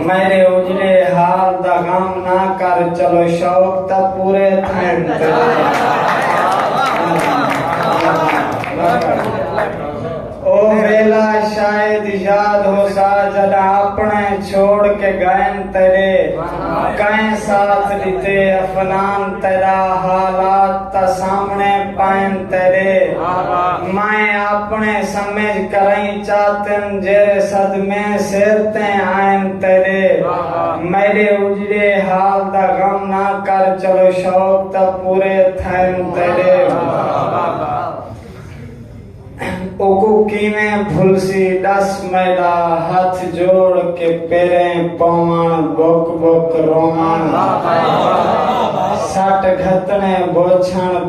میݙے اجڑے حال دا غم نہ کر چلو شوق تاں پورے تھئن او ویلا شاید یاد ہوسا جڈاں اپݨے چھوڑ کے گئن تیڈے کئیں ساتھ ڈتے افنان تیڈا حالات تاں سامنے پئن تیڈے میں اپݨے سمجھ کرئیں چاتن جیرھے صدمے سر تیں آئن تیڈے میڈے اجڑے حال دا غم نہ کر چلو شوق تاں پورے تھین تیڈے اوکوں کیویں بھلسی ڈس میڈا ہتھ جوڑ کے پیریں پوون بک بک روون سٹ گھتنے بوچھن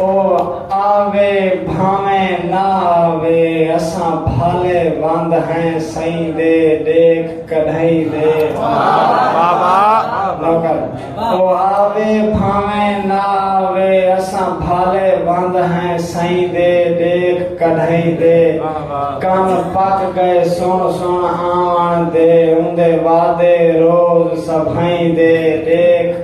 او آوے بھانویں نہ آوے اساں بھالے وند ہیں سئیں دے ݙیکھ کڈھئیں دے واہ واہ نوکر او آوے بھانویں نہ آوے اساں بھالے وند ہیں سئیں دے ݙیکھ کڈھئیں دے کن پک گئے سن سن آوݨ دے اوندے وعدے روز سبھئیں دے ݙیکھ